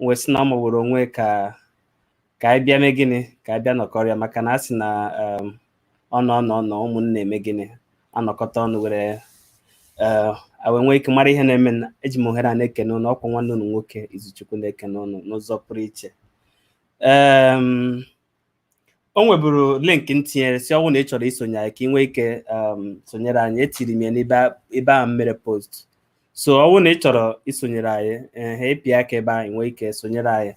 wee sị na ọ magburu onwe ka ka anyị bịa mee gịnị ka anyị bịa nọkọrịa maka na a sị na um, ọ nọ nọ nọ ụmụnna eme gịnị anọkọta ọnụ were eh, a wee nwee ike mara ihe na-eme na eji m ohere a na-ekene ụnụ ọkwa nwanne ụnụ nwoke izuchukwu na-ekene ụnụ n'ụzọ pụrụ iche Em, o nweburu link m tinyere sị ọ wụ na ị chọrọ isonyere anyị ka ị nwee ike um, sonyere anyị etiri m ya n'ebe a- ebe ahụ m mere post so ọ wụ na ị chọrọ isonyere anyị ehe ịpịa aka ebe ahụ ị nwee ike sonyere anyị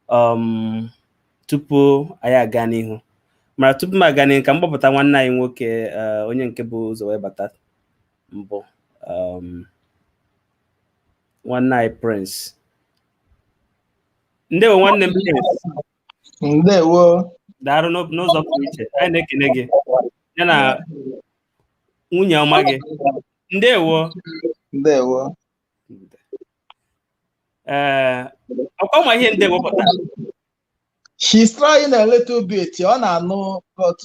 um, tupu anyị aga n'ihu mara tupu m aga n'ihu ka m kpọpụta nwanne anyị nwoke eh, onye nke bụ ụzọ wee bata mbụ um, nwanne anyị prince ndewo nwanne m prince ndewo daalụ n'o- n'ụzọ pụrụ iche anyị na-ekene gị ya na nwunye ọma gị ndewo ndewo ee ọkwa ọ ma ihe ndewo pụtara she's trying a little bit ọ na-anụ but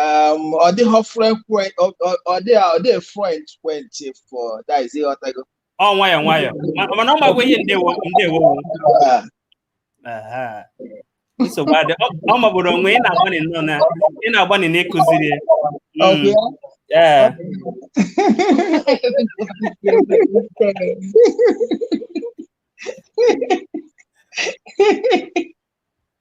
um, ọ dịghị fluent ọ- ọ- ọ dịghị ọ dịghị fluent fluent for that is ị ghọtago ọ nwayọ nwayọ Ma- mana ọ makwa ihe ndewo ndewo wụ. Ah, nsogbu adịghị ọ magburu onwe ị na-agbanị nnọọ na ị na-agbanị na ịkụziri ya Okay. ee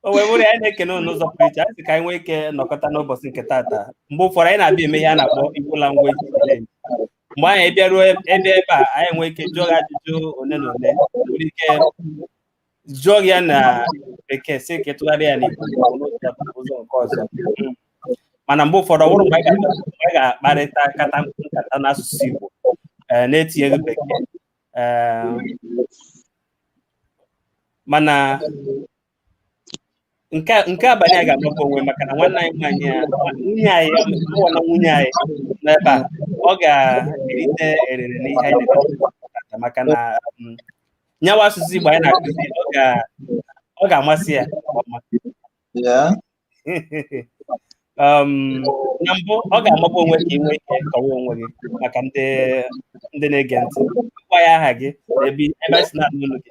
o wee bụrụ ya anyị na-ekene unu n'ụzọ pụrụ iche anyị sị ka anyị nwee ike nọkọta n'ụbọchị nke taata mgbe ụfọdụ anyị na-abịa eme ihe a na-akpọ Igbo language challenge mgbe anyị bịaruo ebe ebe a anyị nwee ike jụọ gị ajụjụ ole na ole nwere ike jụọ gị ya na bekee sị ka ị tụgharịa ya n'Igbo ụzọ nke ọzọ mana mgbe ụfọdụ ọ wụrụ mgbe anyị ga-akparịta nkata nkata n'asụsụ Igbo na-etinyeghị bekee mana nke a- nke abalị a ga-amagbu onwe maka na nwanne anyị nwaanyị a nwunye anyị ọ bụ na nwunye anyị n'ebe a ọ ga-erite erere n'ihe anyị na-eme tata maka na um, nya wụ asụsụ Igbo anyị na-akụzi ọ ga- ọ ga-amasị ya nke ọma. Yeah. um, na mbụ ọ ga-amagbu onwe ka ị nwee ike kọwa onwe gị maka ndị ndị na-ege ntị gwa ya aha gị na ebe ebe anyị si na-anụ olu gị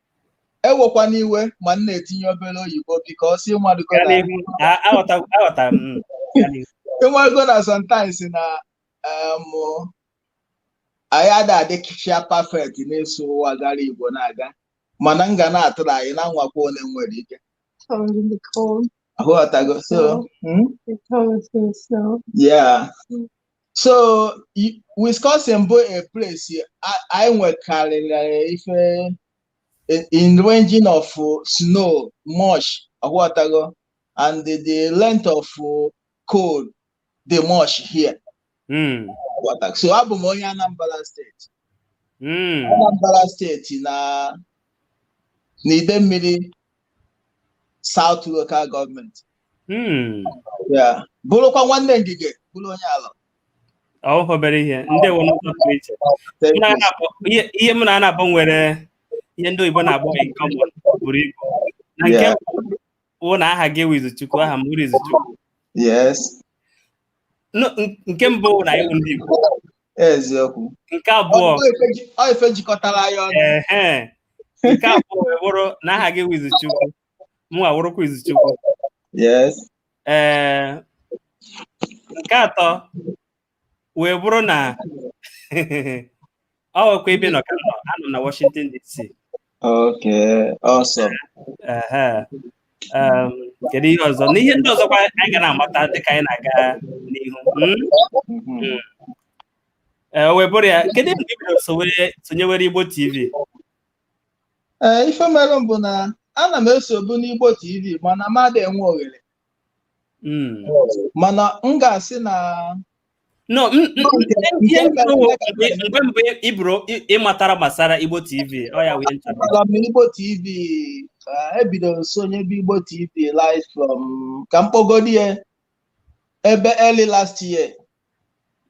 ewekwana iwe ma m na-etinye obere oyibo because ị madugo Gaa na n'ihu. A- aghọta- aghọtara m. Mm. Gaa n'ihu. ị madugo na sometimes na em, anyị ada adịkịcha perfect n'ịsụ ụwa gara igbo na-aga mana m ga na-atry na-anwakwa one m nwere ike cold in the cold. ị ghọtago so mm, The cold is so yeah so Wisconsin bụ a place anyị nwekarịrị ife in ranging of snow much aghọtago and the, the length of cold dị much here hmm. so abụ m onye Anambra steeti hmm. Anambra steeti na n'Idemmiri South local gọọmenti Hmm. bụrụkwa nwanne Ngige bụrụ onye Alọ ọhọ obere ihe ndị ihe m na gị nabọ nwere ihe ndị oyibo na-akpọ in common buru ibu na nke bụ na aha gị wụ Izuchukwu aha m wụ Izuchukwu nke mbụ na anyị wụ ndị igbo eziokwu nke abụọ ife jikọtara anyị ọnụ nke abụọ wee bụrụ na aha gị wụ Izuchukwu mụ awụrụkwa Izuchukwu Yes. ee nke atọ wee bụrụ na ọ wụkwa ebe ị nọ ka m nọ anọ m na Washington DC Okay. Awesome. Ehe. Em, kedu ihe ọzọ n'ihe ndị ọzọkwa anyị ga na-amata dịka anyị na-aga n'ihu Mm? Mhm. Ee, o wee bụrụ ya kedu mgbe i bidoro sowe sonyewere Igbo TV ee ife mere m bụ na ana m esobu n'Igbo TV mana m adịghị enwe oghere Mm. mana m ga-asị na no m- m- m- ihe m kwuru bụ mgbe mbụ ị bụrụ ị- ị matara gbasara igbo tv ọ ya wụ ihe m chọrọ Amara m Igbo TV ka ebidoro m sonyebe Igbo TV live from ka m kpọgodi ya ebe early last year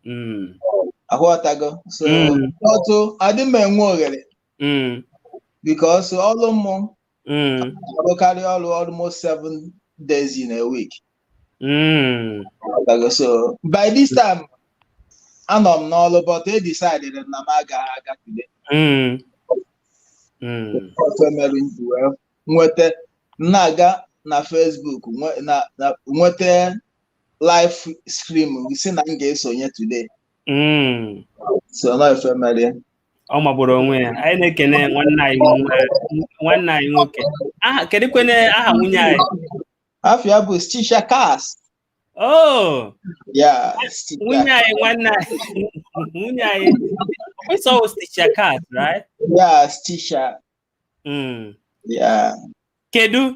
mm. aghọtago so mm. otu adị m enwe oghere mm. because ọrụ mụ arụkarị ọrụ almost seven days in a week so by this time anọ m n'ọrụ but I decided na m agaghị aga today otu e mere m ji wee nweta na-aga na Facebook nweta live stream gị si na m ga-esonye today Mm. so na ife mere ya. ọ magburu onwe ya anyị na-ekene nwanne anyị nwe- nwanne anyị nwoke aha kedukwene aha nwunye anyị afa ya bụ stisha kas oh ya Stisha. nwunye anyị nwanne anyị nwunye anyị ọkwụsọ sticha kat right ya stisha Mm. ya kedu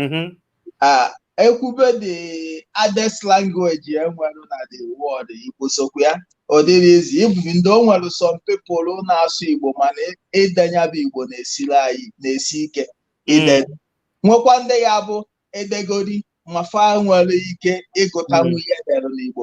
mm-hmm. ah, e kwube the hardest language e nwere na the world igbo sokwa ya ọ dịrọ easy even ndị o nwere some people na-asụ igbo mana ide nya bụ igbo na-esiri anyị na-esi ike ide mm. nwekwa ndị ya bụ e degodi ma fa nwere ike ịgụtanwu ihe mm. e dere n'igbo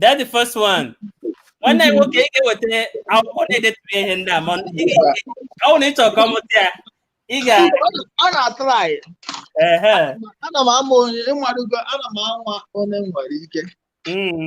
That's the first one. nwanne anyị nwoke ị ga-eweta akwụkwọ na-edetụrụ ihe ndị a ma ọ wụ na ị chọrọ ka ọ mụta ya ị ga ọ na-atrai ehe ana m ama onye ịmarụgo ana m anwa onye m nwere ike mm.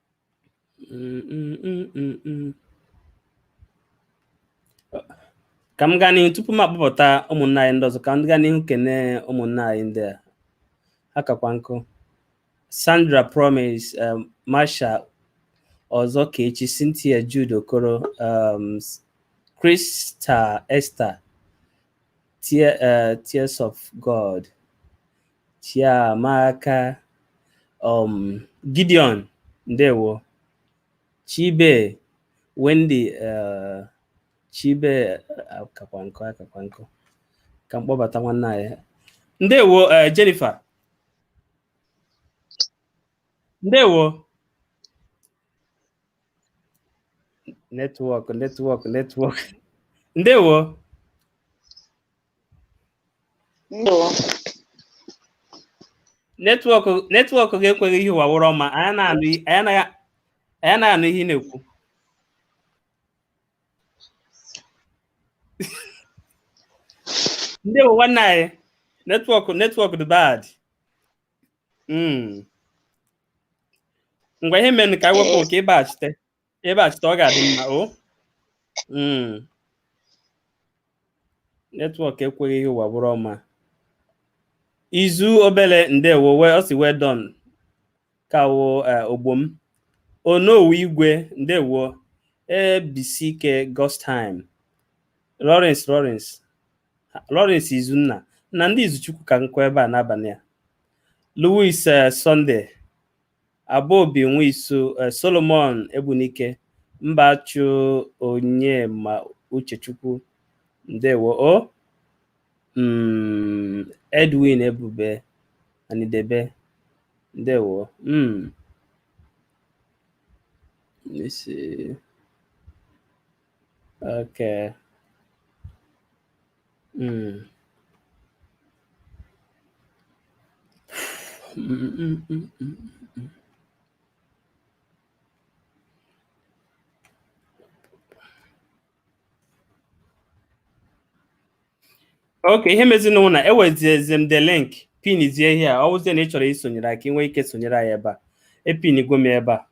ka m gaa n'ihu tupu m akpọpụta ụmụnna anyị ndị ọzọ ka m gaa n'ihu kene ụmụnna anyị ndị a akakwa nkụ Sandra Promise um, Marsha Ozokechi Cynthia Jude Okoro um, Krista Esther Tear, uh, Tears of God Chiamaka um, Gideon ndewo Chibe Wendy uh, Chibe akakwa nkụ akakwa nkụ ka m kpọbata nwanne anyị ndewo uh, Jennifer ndewo netwọk netwọk netwọk ndewo netwọk gị ekweghị ihe ụwa wụrụ ọma anyị anaghị anụ ihe ị na-ekwu ndewo nwanne anyị netwọk netwọk dị bad ngwa ihe mere ka anyị wepụ ka ịbaghachite ịbachite ọ ga-adị mma o hmm. netwọk ekweghị ihe ụwa bụrụ ọma izu obele ndewo ọ sị well done kawo eh, ogbom onowu igwe ndewo ebisike godstime lawrence lawrence lawrence izunna na ndị izuchukwu ka nọkwa ebe a n'abalị a louis eh, sunday Abobi Nwisu, eh, Solomon Egbunike, Mbachu Onyema Uchechukwu, ndewo o. Mm, Edwin Ebube Anidebe, ndewo. Mm. Let me see. Okay. Mm. okay ihe mezinụ wụ na eweziezi m the link pinizie ihe a ọ wụzie na ị chọrọ isonyere aka ị nwee ike sonyere anyị ebe a epinigo m ebe a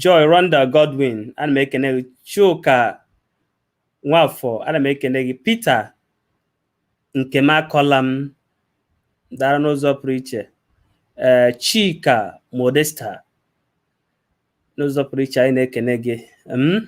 Joy Rhonda Godwin ana m ekene gị Chuka Nwafọ ana m ekene gị Peter Nkemakọlam dara n'ụzọ pụrụ iche ee Chika Modesta n'ụzọ pụrụ iche anyị na-ekene gị m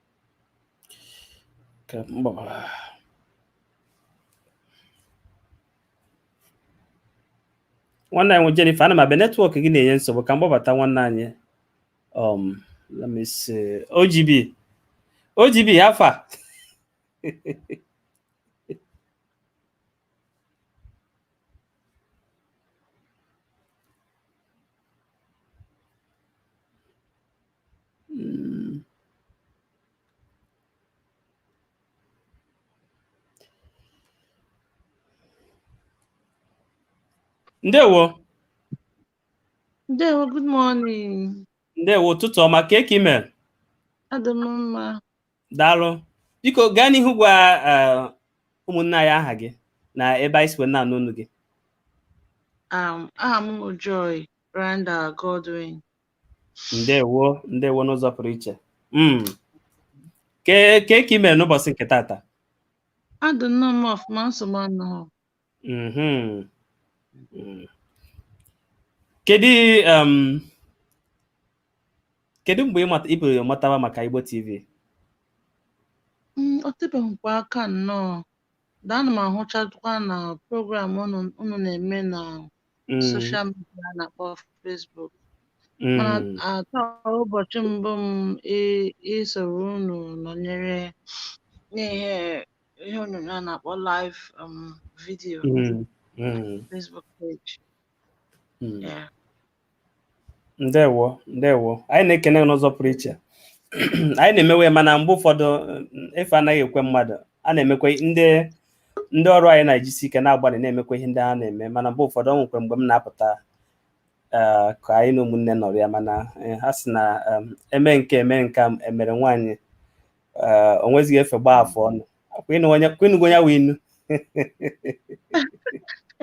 ka m gbabata nwanne anyị nwe Jennifer ana m abịa netwọk gị na-enye nsogbu ka m gbabata nwanne anyị um let me see OGB OGB afa Mm. ndewo Ndewo, good morning. ndewo ụtụtụ ọma kee ka ị mere Adị m mma. daalụ biko gaa n'ihu gwa eh, ụmụnne anyị aha gị na ebe anyị si wee na-anụ olu gị Um, aha m bụ Joy Rhonda Godwin. ndewo ndewo n'ụzọ pụrụ iche Mm. ke kee ka ị mere n'ụbọchị nke tata adị nnọọ m ọfụma nsogbu anọghị Mhm. Mm. kedu um, kedu mgbe ị mata- i bidoro matawa maka Igbo TV Mm, o tebeghịkwa aka nnọọ da ana m ahụchakwa na program unu unu na-eme na mm. social media a na-akpọ Facebook mana mm. taa wụ ụbọchị mbụ m isoro unu nọnyere n'ihe ihe onyonyo a na-akpọ live um, video Facebook page ndewo ndewo anyị na-ekene n'ụzọ pụrụ iche anyị na-emewe mana mgbe ụfọdụ efe anaghị ekwe mmadụ a na-emekwa ndị ndị ọrụ anyị na-ejisi ike na-agbalị na-emekwa ihe ndị ha na-eme mana mgbe ụfọdụ o nwekwa mgbe m na-apụta eh, ka anyị na ụmụnne nọrịa mana eh, ha sị na eme nke eme nke emere nwaanyị eh, o nwezighị efe gbaa afọ ọnụ kwenugo ya wee inu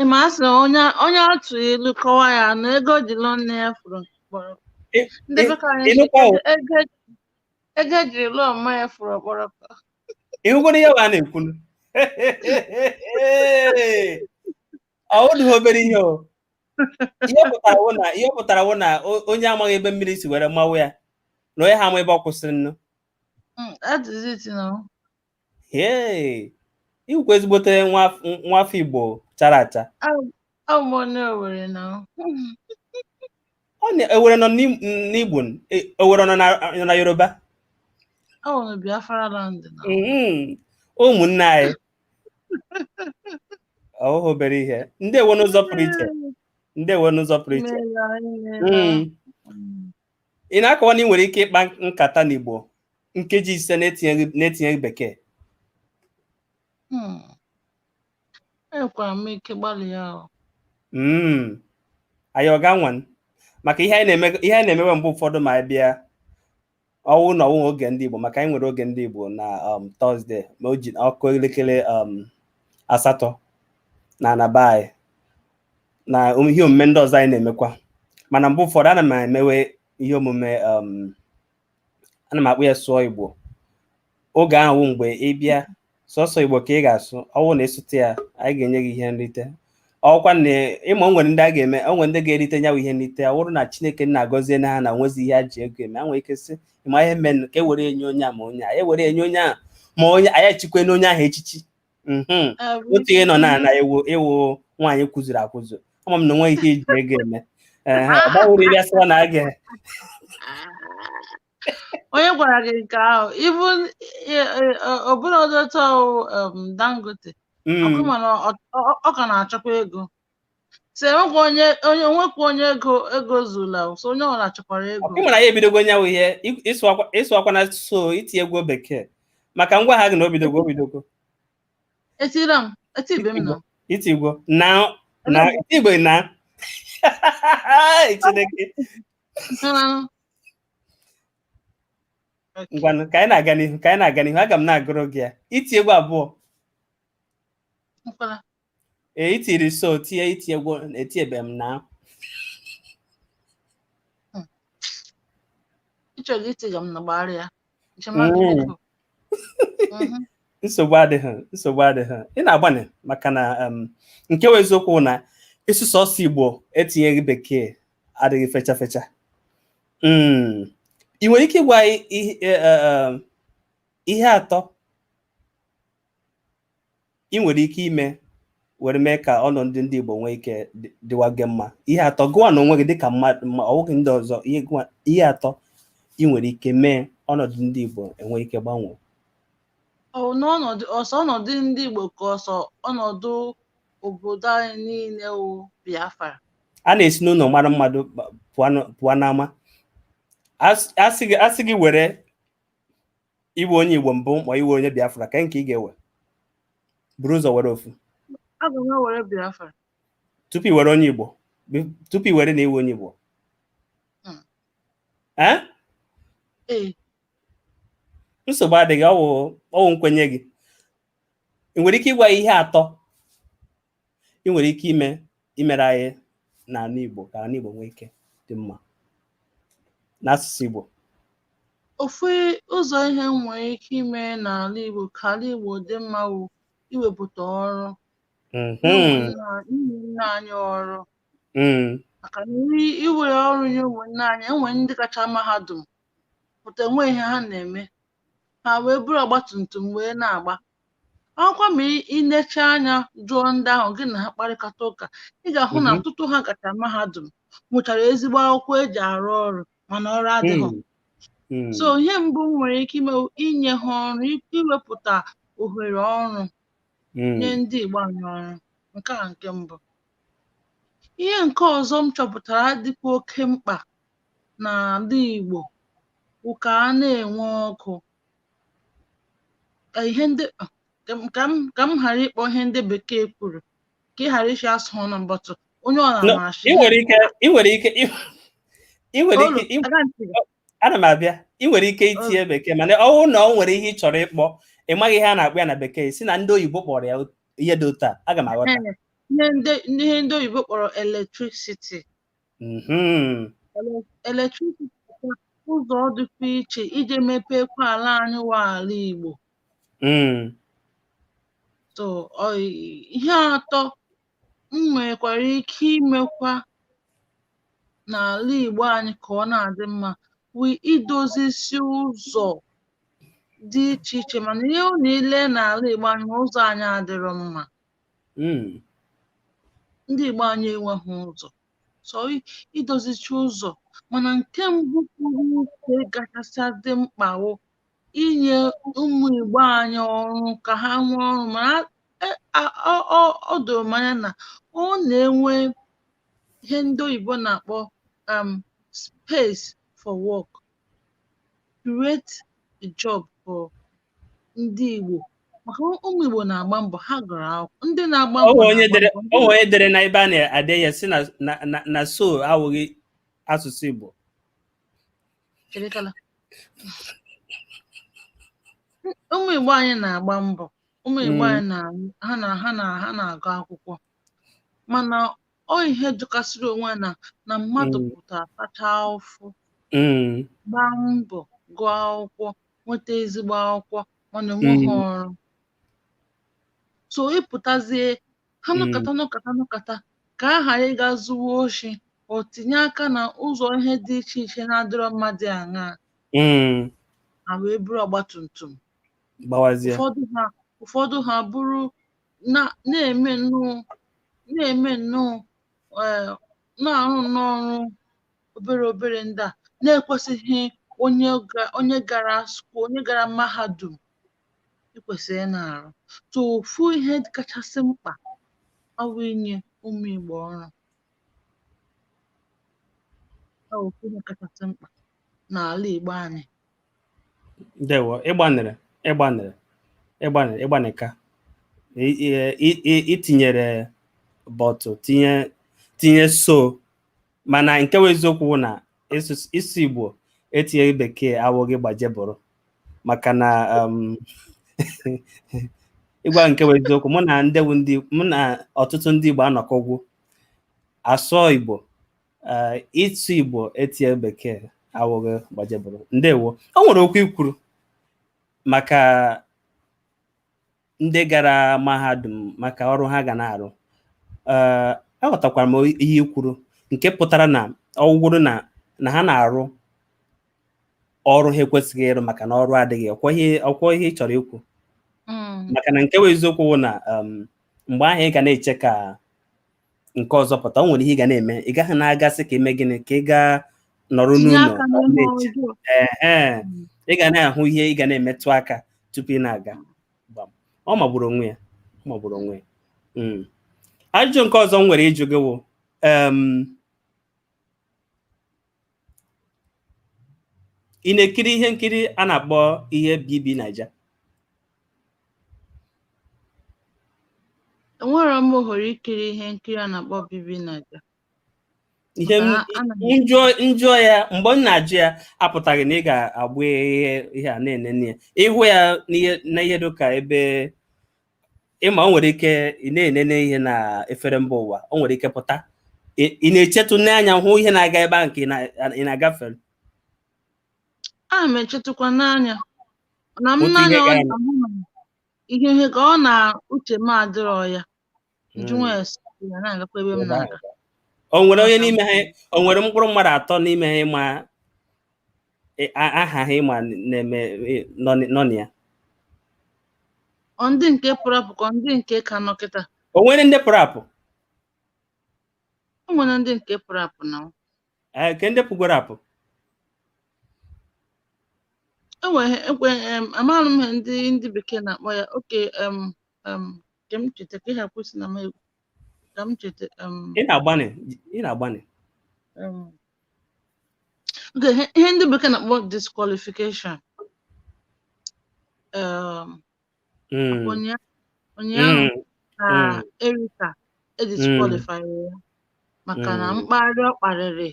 ị ma a sị na onye onye a tụọ ilu kọwaa ya na ego e ji lụọ nne ya furu ọkpọrọ Ị- ndị ị- be ka anyị ị si nụkwa o? ego ego e jiri lụọ mma ya furu ọkpọrọ ị hụgoro ihe wa a na-ekwunu ọ dịghị obere ihe o ihe ọ pụtara wụ na ihe ọ pụtara wụ na o- onye amaghị ebe mmiri si were mawa ya na onye ha ama ebe ọ kwụsịrị nnu Mm, that is it, you know. Hey, ị wụkwa ezigbote nwa af- nwa afọ Igbo chara acha. Oh, a mụrụ m n'Owere now. Ọ na Owere nọ n'Im- n'Igbo, n- e- Owere nọ na nọ na Yoruba. I want to be a far land now. Mhm. Ụmụnne anyị. Ọ bụghị obere ihe. Ndewo n'ụzọ pụrụ iche. Ndewo n'ụzọ pụrụ iche. Mm. ị na-akọwa na ị nwere ike ịkpa nkata n'Igbo nkeji ise na-etinyeghị bekee hmm. enwekwara m ike gbalịa hmm. anyị ga-anwa maka ihe anyị na-emewe mgbe ụfọdụ ma anyị bịa ọ wụ na ọ wụ oge ndị Igbo maka anyị nwere oge ndị Igbo na um, Tọzde ma o ji akụ elekere um, asatọ na n'abalị na ihe omume ndị ọzọ anyị na-emekwa mana mgbe ụfọdụ ana m emewe ihe omume um, ana m akpọ ya sụọ igbo oge ahụ mgbe ị bịa sọsọ igbo ka ị ga-asụ ọ wụ na ị sụta ya anyị ga-enye gị ihe nrite ọ kwa na ị ma o nwere ndị a ga-eme o nwere ndị ga-erite nya wụ ihe nrite ọ bụrụ na chineke na-agọzie na ha na nwezi ihe a ji ego eme a nwere ike sị ị ma ihe merenụ ka e were enye onye a ma onye a e were enye onye a ma onye anyị echikwe na onye ahụ echichi Mhm. Ah, oui. otu ihe nọ na na ewu ị wụ nwaanyị kwụzuru akwụzu ama m na o nwe ihe e ji ego eme Ehe, ọ gbanwere iri asịwa na aga onye gwara gị nke ahụ ibu ọbụla ọdọta dangote ọkụ mana ọ- ọ- ọ ka na-achọkwa ego so enwekwa onye onye o nwekwa onye ego ego zuola so onye ọbụla chọkwara ego ị mara anyị ebidogo nya wụ ihe ị- ị sụakwa- ị sụakwana so i tiegwo bekee maka m gwara gị na o bidogo o bidogo etira m etibe m na i tiegwo na na i tiegwo na chineke Nna. ngwanụ ka anyị na-aga n'ihu ka anyị na-aga n'ihu aga m na-agụrụ gị ya i tiegwo abụọ Nkwala. Ee, i tiri so tie i tiegwo etiebe m na ị chọghị itiga m na gbara ya Mm. nsogbu adịghị nsogbu adịghị ị na-agbanị maka na um, nke wụ eziokwu na ịsụ sọsọ igbo etinyeghị bekee adịghị fecha fecha Mm. ị nwere ike ịgwa anyị ihe eh, eh, um, ihe atọ ị nwere ike ime were mee ka ọnọdụ ndị Igbo nwee ike dịwaga mma ihe atọ gịwa n'onwe gị dịka mmadụ ma ọ bụghị ndị ọzọ ihe atọ ị nwere ike mee ọnọdụ ndị Igbo enwee ike gbanwee n'ọnọdụ ọ sọ ọnọdụ ndị Igbo ka ọ sọ ọnọdụ obodo anyị niile wụ Biafra a na-esi n'ụlọ mara mmadụ pụọ n'ama a sị gị were ịwụ onye igbo mbụ ma ịwụ onye biafra kee nke ị ga-ewe buru ụzọ were ofu aga m ewere biafra tupu i were onye igbo bi- tupu i were na ị wụ onye igbo Hmm. Eh? ee nsogbu adịghị ọ wụ ọ wụ nkwenye gị ị nwere ike ịgwa anyị ihe atọ ị nwere ike ime imere anyị n'ala Igbo ka ala Igbo nwee ike dị mma n'asụsụ Igbo ofu ụzọ ihe m nwere ike ime n'ala Igbo ka ala Igbo dị mma bụ iwepụta ọrụ mm-hmm. ụmụnna anyị ọrụ mm. maka na i were ọrụ nye ụmụnne anyị e nwere ndị gacha mahadum pụta enweghị ihe ha na-eme ha wee buru ọgbatumtum wee na-agba ọkwa ma i necha anya jụọ ndị ahụ gị na ha kparịkọta ụka ị ga-ahụ na mhm. ọtụtụ ha gacha mahadum nwechara ezigbo akwụkwọ e ji arụ ọrụ mana ọrụ adịghị hmm. Hmm. so ihe mbụ m nwere ike ime inye ha ọrụ iwepụta ohere ọrụ hmm. nye ndị Igbo anyị ọrụ nke a nke mbụ ihe nke ọzọ m chọpụtara dịkwa oke mkpa n'ala Igbo bụ ka a na-enwe ọkụ ka ihe ndị ka m ka m ka m ghara ịkpọ ihe ndị bekee kwuru ka ị ghara ịsị asụ ọnụ mbatụ onye ọ No, na-amasị ị nwere ike ị nwere ike ị ị nwere ike ị- ana m abịa ị nwere ike itinye bekee mana ọ bụrụ na ọ nwere ihe ị chọrọ ịkpọ ị maghị ihe a na-akpọ ya na bekee sị na ndị oyibo kpọrọ ya ihe dị otu a aga m aghọta ihe ndị ihe ndị oyibo kpọrọ electricity Mhm. Ele- electricity bụ ụzọ dịkwa iche iji mepekwa ala anyị wa ala Igbo Mm. so ọ ihe atọ m nwekwara ike imekwa n'ala Igbo anyị ka ọ na-adị mma bụ idozisi ụzọ dị iche iche mana ihe ọ na-ele n'ala Igbo anyị ma ụzọ anyị adịrọ mma Mm. ndị Igbo anyị enweghị ụzọ so i- idozichi ụzọ mana nke mbụ pụrụ iche kachasị dị mkpa bụ inye ụmụ Igbo anyị ọrụ ka ha nwee ọrụ mana e- a- ọ- ọ- ọ doro m anya na ọ na-enwe ihe ndị oyibo na-akpọ um, space for work create a job for ndị Igbo maka ụmụ Igbo na-agba mbọ ha gụrụ akwụkwọ ndị na-agba mbọ o nwe onye dere na ebe a na-ede ya sị na so awụghị asụsụ Igbo ụmụ Igbo anyị na-agba mbọ ụmụ Igbo hmm. anyị na ha na ha na ha na-agụ akwụkwọ mana ọ ihe jọkasịrị onwe ya na mmadụ Mm. pụta tachaa ụfụ Mm. gbaa mbọ gụọ akwụkwọ nweta ezigbo akwụkwọ mana enweghị Mm. ọrụ so ịpụtazie ha Mm. nọkata nọkata nọkata ka a ghara ịga zuwa oshi o tinye aka na ụzọ ihe dị iche iche na-adịrọ mmadụ aṅaa Mm. ha wee buru ọgbatumtum gbawazie ụfọdụ ha ụfọdụ ha bụrụ na na-eme nnọọ na-eme nnọọ eh, na-arụ nnọọ ọrụ obere obere ndị a na-ekwesịghị onye ga- onye gara skuul onye gara mahadum ekwesịghị na-arụ so ofu ihe kachasị mkpa awụ inye ụmụ Igbo ọrụ Ọ bụ ofu ihe kachasị mkpa n'ala Igbo anyị ndewo ị gbanịrị ị gbanịrị ị gbanị ị gbanịka i tinyere but tinye tinye so mana nke wụ eziokwu wụ na ịsụ igbo etinyeghị bekee awụghị gbaje buru maka na um, ịgwa nke wụ eziokwu mụ na ndị mụ na ọtụtụ ndị igbo anọkọgwu asụọ igbo Eh, ịsụ igbo etinyeghị bekee awụghị gbaje buru ndewo o nwere okwu i kwuru maka ndị gara mahadum maka ọrụ ha ga na-arụ eh, aghọtakwara m ihe i kwuru nke pụtara na ọ wụgodu na na ha na-arụ ọrụ ha ekwesịghị ịrụ maka na ọrụ adịghị ọ kwa ihe ị chọrọ ikwu mm. maka na nke wụ eziokwu na um, mgbe ahụ ị ga na-eche ka nke ọzọ pụta o nwere ihe ị ga na-eme ị gaghị na-aga sị ka i mee gịnị ka ị gaa nọrọ tinye n'ụlọ aka ọ n'ime na-eche ọjọọ ehe ị ga na-ahụ ihe ị ga na-emetụ aka tupu ị na-aga Gbam. ọ magburu onwe ya ọ magburu onwe ya Mm. ajụjụ nke ọzọ m nwere ịjụ gị wụ em, ị na-ekiri ihe nkiri a na-akpọ ihe bb naija enwere m ohere ikiri ihe nkiri a na-akpọ bb naija ihe m jụọ ya mgbe m na-ajụ ya apụtaghị na ị ga-agba ihe a na-enene ya ịhụ ya na ihe dịka ebe ịma o nwere ike ị na-enene ihe na efere mba ụwa o nwere ike pụta ị na-echetụ n'anya hụ ihe na-aga ebe ahụ nke ị na-agafe a m echetụkwa n'anya na m n'anya ọ na-ahụ na ihe ihe ka ọ na uche m adịrọ ya njụnwa ya si ya na-agakwa ebe m na-aga o nwere onye n'ime ha o nwere mkpụrụ mmadụ atọ n'ime ha ịma E, a- aha ha ịma na-eme e, nọ n- nọ na ya Ọ ndị nke pụrụ apụ ka ọ ndị nke ka nọ kịta. o nwere ndị pụrụ apụ O nwere ndị nke pụrụ apụ na ọ. Ee, nke ndị pụgoro apụ E nwere ekwe em amaghị m ihe ndị ndị bekee na-akpọ ya. Oke em em ka m cheta ka ịha kwụsị na m egwu. Ka m cheta em ị na-agbanị ị na-agbanị em Nke ihe ihe ndị bekee na-akpọ disqualification um, Mm, ụnya- ụnyaahụ mm, ka mm. Erica e disqualify ya maka na Mm. mkparị ọ kparịrị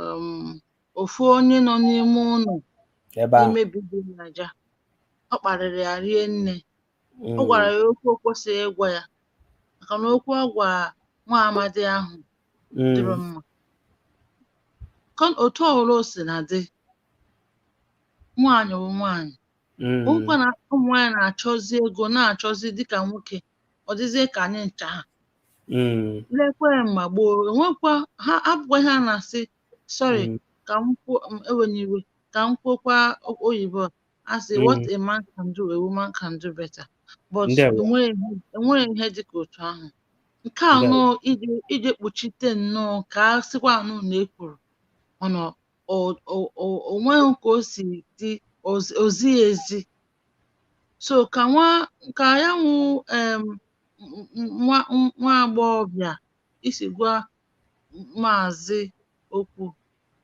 um, ofu onye nọ n'ime ụlọ ebe ahụ n'ime BBNaija ọ kparịrị ya rie nne Mm. ọ gwara ya okwu o kwesịghị ịgwa ya maka na okwu ọ gwa nwa amadi ahụ adịrọ Mm. mma Ka- otu ọbụla o si na dị nwaanyị bụ nwaanyị Mm. ọ wụkwa na ụmụ nwaanyị na-achọzi ego na-achọzi dịka nwoke ọ dịzie ka anyị ncha ha Mm. lekwe mgbe gboo enwekwa ha abụkwa ihe a na-asị sorry Mm. ka m kwuo m ewenye iwe ka m kwuo okwu oyibo a. a sị what mm. a man can do a woman can do better but e nwere ihe dị ka otu ahụ nke a nụ ije kpuchite nnọọ ka a sịkwa ọnụ na-ekwuru mana onweghị ka o si dị ozighị ezi so ka nwa ka ya wụ nwa agbọghọbịa si gwa maazị okwu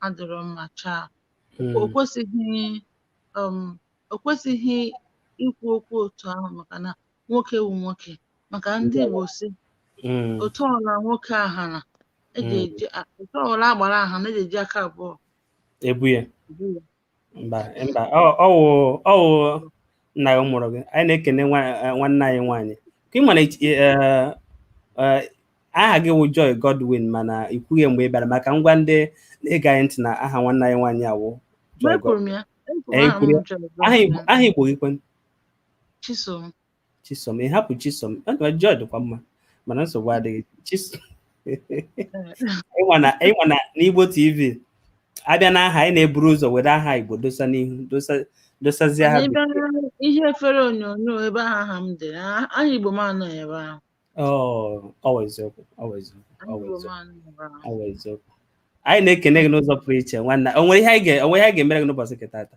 adịrọ mma chaa hmm. o kwesịghị um, o kwesịghị ikwu okwu otu ahụ maka na nwoke wu nwoke maka ndị Igbo sị hmm. otu ọla nwoke ahana eji hmm. otu ọla agbara ahana eji eji aka abụọ ebu ya mba mba ọ- ọ wụ ọ wụ nna gị mụrụ gị anyị na-ekene nwa- eh, nwanne anyị nwaanyị ka ị mana ichi- eh, eh, aha gị wụ Joy Godwin mana ị kwughị mgbe ị bịara ma ka m gwa ndị na-ege anyị ntị na aha nwanne anyị nwaanyị awụ Joy Ekwuru Godwin m ya. Ekwuru Ee, aha m kwuru ya. bụ Joy aha Igbo Godwin. aha Igbo gị kwanụ Chisom. chisom ị hapụ chisom ọdịwa Joy dịkwa mma mana nsogbu adịghị chisom ịma na ịma na n'igbo tv a bịa n'aha anyị na-eburu ụzọ were aha igbo dosa n'ihu dosa dosazie ha Anyị bịa na ihe efere onyonyo ebe ahụ aha m dere a- aha Igbo m anọ ebe ahụ Oh, ọwa eziokwu ọwa eziokwu aha ọwa Igbo m eziokwu anọ ebe ahụ ọwa eziokwu anyị na-ekene gị n'ụzọ pụrụ iche nwanne o nwere ihe anyị ga- o nwere ihe anyị ga-emere gị n'ụbọchị nke tata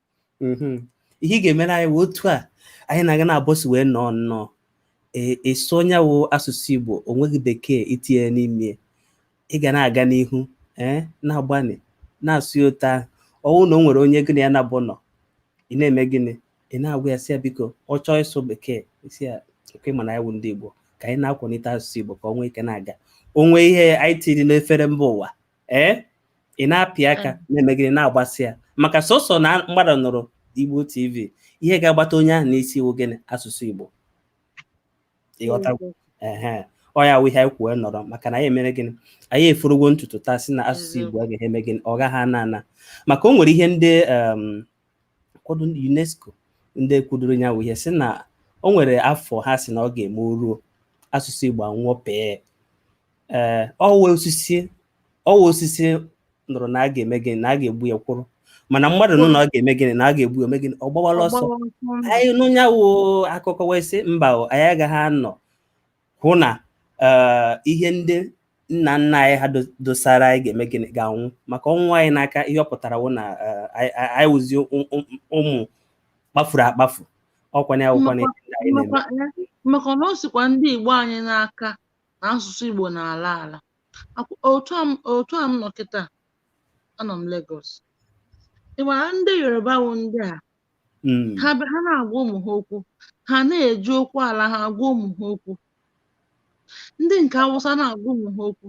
mm-hmm. ihe ị ga-emere anyị wụ otu a anyị na-aga na abọsi wee nọọ nnọọ ịsụ e, e nya wụ asụsụ Igbo o nweghị bekee i tinye n'ime ị ga na-aga n'ihu ee eh, na-agbalị na-asụ ya otu ahụ ọ wụ na o nwere onye gị na ya naabọ nọ ị na-eme gịnị ị na-agwa ya sị ya biko ọ chọọ ịsụ bekee si ya nke mana anyị wụ ndị Igbo ka anyị na-akwalite asụsụ Igbo ka ọ nwee ike na-aga o nwee ihe anyị tiri n'efere mba ụwa ee ị na-apị aka mm. na-eme gịnị na-agbasa ya maka sọsọ na mmadụ nụrụ Igbo TV ihe ga-agbata onye ahụ n'isi wụ gịnị asụsụ Igbo ọ ya wụ ihe anyị kwuo nọrọ maka na anyị emere gịnị anyị eforogo ntutu taa si na asụsụ Igbo a ga-eme eme gịnị ọ gaghị ana ana maka o nwere ihe ndị um, kwado ndị UNESCO ndị kwudoro ya wụ ihe si na o nwere afọ ha si na ọ ga-eme o ruo asụsụ Igbo anwụọ pee ee ọ wụ osisi ọ wụ osisi nụrụ na a ga-eme gịnị na a ga-egbu ya kwụrụ mana mmadụ nụ na ọ ga-eme gịnị na a ga-egbu ya eme gịnị ọ gbawala ọsọ anyị nụ nya wụ akụkọ wee sị mba o anyị agaghị anọ hụ na ee, ihe ndị nna nna anyị ha do- dosara anyị ga-eme gịnị ga-anwụ maka ọ nwụọ anyị n'aka ihe ọ pụtara wụ na ee, anyị- anyị anyị wụzi ụm- ụm- ụmụ kpafuru akpafu ọkwanye awụkwanye Mmakwa- mmakwa- eh, maka na o sikwa ndị Igbo anyị n'aka na asụsụ Igbo na-ala ala otu a otu a m nọ kịta anọ m Lagos i were ndị Yoruba wụ ndị a hmm. ha na-agwa ụmụ ha okwu ha na-eji okwu ala ha agwa ụmụ ha okwu ndị nke Awụsa na-agwa ụmụ ha okwu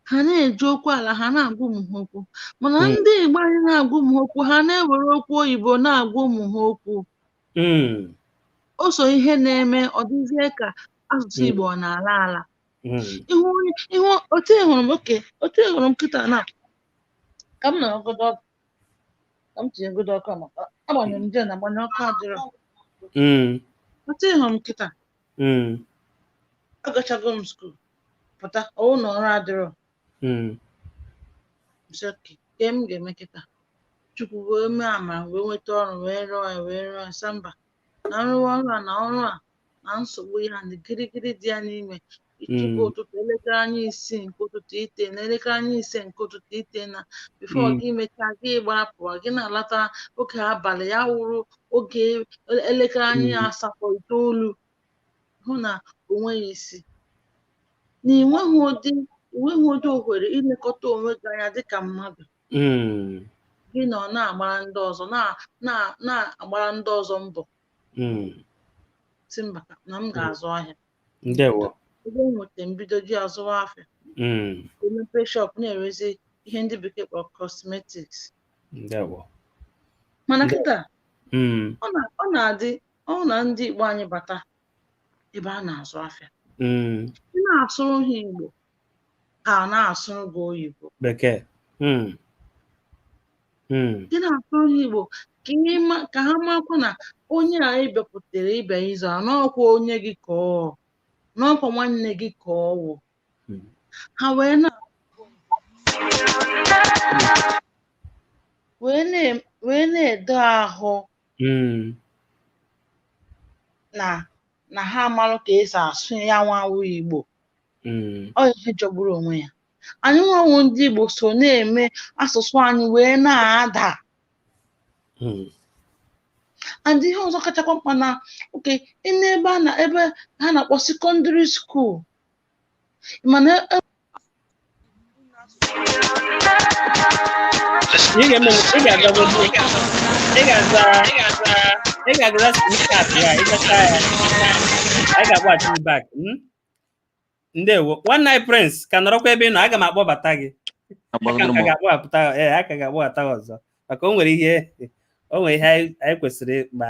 ha na-eji okwu ala ha na-agwa ụmụ ha okwu mana hmm. ndị Igbo anyị na-agwa ụmụ ha okwu ha na-ewere okwu oyibo na-agwa ụmụ ha okwu Mm. o so ihe na-eme ọ dịzie ka asụsụ Mm. Igbo ọ na-ala ala Mm. ihu onye ị hụ otu ị hụrụ m okay otu ị hụrụ m kịta na ka m nọrọgodo ọkụ ka m tinyegodo ọkụ a maka agbanyere m gen agbanye ọkụ adịrọ Mm. otu ị hụrụ m kịta Mm. agachago m skuul pụta ọ wụ na ọrụ adịrọ Mm. Sị, "kee ihe m ga-eme kịta chukwu wee mee amara m wee nweta ọrụ wee rụọ ya wee rụọ ya sị mba na m rụwa ọrụ a na ọrụ a na nsogbu ya na gịrịgịrị dị ya n'ime i tee Mm. ụtụtụ elekere anya isii nke ụtụtụ i tee n'elekere anya ise nke ụtụtụ i tee na before Mm. gị mechaa gị gbara pụwa gị na-alata oge abalị ya wụrụ oge elekere anya Mm. asatọ itoolu hụ na o nweghị isi na ị nweghị ụdị ị nweghị ụdị ohere ilekọta onwe gị anya dịka mmadụ Mm. gị nọ na-agbara ndị ọzọ na- na- na-agbara ndị ọzọ mbọ Mm. sị mba ka- na m ga-azụ ahịa Ndewo. ebe m nweta m bido ji azụwa afịa Mm. emepe shọp na-erezi ihe ndị bekee kpọrọ cosmetics Ndewo. mana Ndewo. kịta Mm. ọ na- ọ na-adị ọ wụ na ndị Igbo anyị bata ebe a na-azụ afịa hmm. ị na-asụrụ ha Igbo ha na-asụrụ gị oyibo bekee hmm. Hmm. ị na-asụrụ ha Igbo ka ha makwa na onye a ị bịakwutere ị bịa ịzụ a n'ọkwa onye gị ka ọ wụ n'ọkwa nwanne gị ka ọ wụ ha wee na wee na-edo ahụ Mm. na na ha amarọ ka esi asụ ya nwa wụ Igbo Mm. ọ ihe jọgburu onwe ya anyị nwa wụ ndị Igbo so na-eme asụsụ anyị wee na-ada Mm. and ihe ọzọ kachakwa mkpa na oke n'ebe a na ebe ha na-akpọ sekọndịrị skuul mana e- Ị ga-eme ị ga-agago ị ga-aza ị ga-aza ị ga-agaza snapchat ya ị gachaa ya anyị ga-akpọghachi gị back mm? ndewo nwanne anyị Prince ka nọrọkwa ebe ị nọ aga m akpọbata gị aka m ka ga-akpọbata ee a ka ga-akpọbata gị ọzọ maka o nwere ihe o nwere ihe anyị anyị kwesịrị ịkpa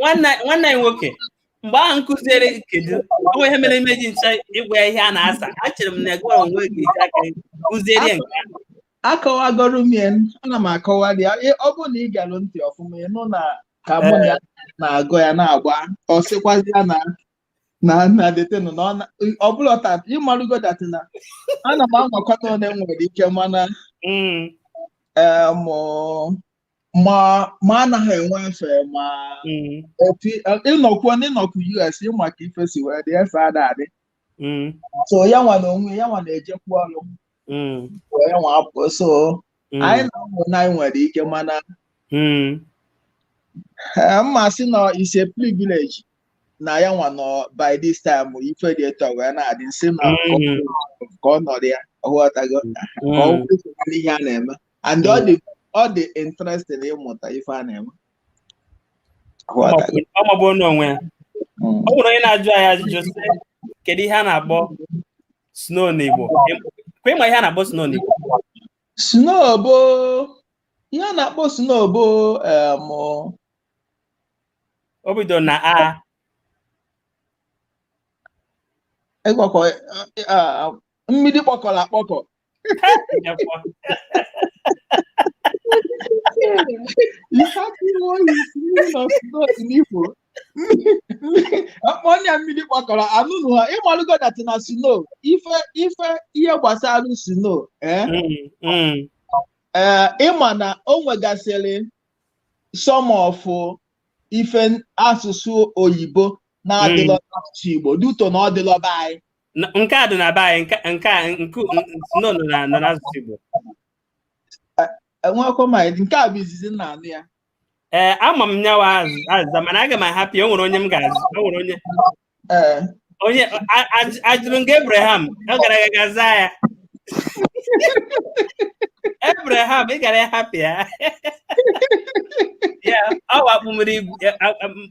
nwanne anyị nwoke mgbe ahụ nkụziere kedu onwe ihe mere imeji ncha ịgwa ya ihe a na-asa achere m na gị onwe gị eji aka kụziere ya nke ahụ akọwagoro m ya ana m akọwa ya ọ bụrụ na ị gelụ ntị ọfụma ị nụ na ka mụ na ya na-agụ ya na-agba ọ sịkwazi ya na na na detenụ na ọ bụla ọta ị malụgo that na ana m anwakwata one m nwere ike mana em ma ma anaghị enwe efe ma mm. opi ị nọkwu na ị nọkwu US ị ma ka ife si wee dị efe ada adị mm. so ya nwa na onwe ya nwa na-ejekwu ọrụ mm. ya nwa apụ so anyị na-eme one anyị nwere ike mana m ma-asị eh, na is a privilege na ya nwa nọ by this time ife dị etu wee na-adị m sị na ka ọ nọrọ ya ọ ghọtago ka ọ ihe a na-eme and ọ dị ọ dị interesting ịmụta ife a na-eme ọ mabu onye onwe ya Mm. ọ bụrụ onye na-ajụ anyị ajụjụ sị kedu ihe a na-akpọ snow n'Igbo kwa ị ma ihe a na-akpọ snow n'Igbo snow bụ ihe a na-akpọ snow bụ em, o bido na a ịgwakọ a- a- mmiri kpọkọrọ akpọkọ ọ nya mmiri kpọkọrọ anụnụ ha ị malụgo that na snow ife ife ihe gbasara snow ee ị ma na o nwegasịrị some of ife asụsụ oyibo na-adịlọ n'asụsụ Igbo due to na ọ dịlọ be anyị N- nke a dị na be anyị nke nke a nke nọ nọ na na n'asụsụ Igbo enwekwa ma nke a bụ izizi m na-anụ ya ee ama m nyawa azụ- azịza mana aga m ahapụ ya o nwere onye m ga-ajụ o nwere onye ee onye a- a- ajụrụ m gị Abraham ọ gara aga ga zaa ya Abraham ị gara ịhapụ ya ya ọ wụ akụ mmiri igwe- a- a- m-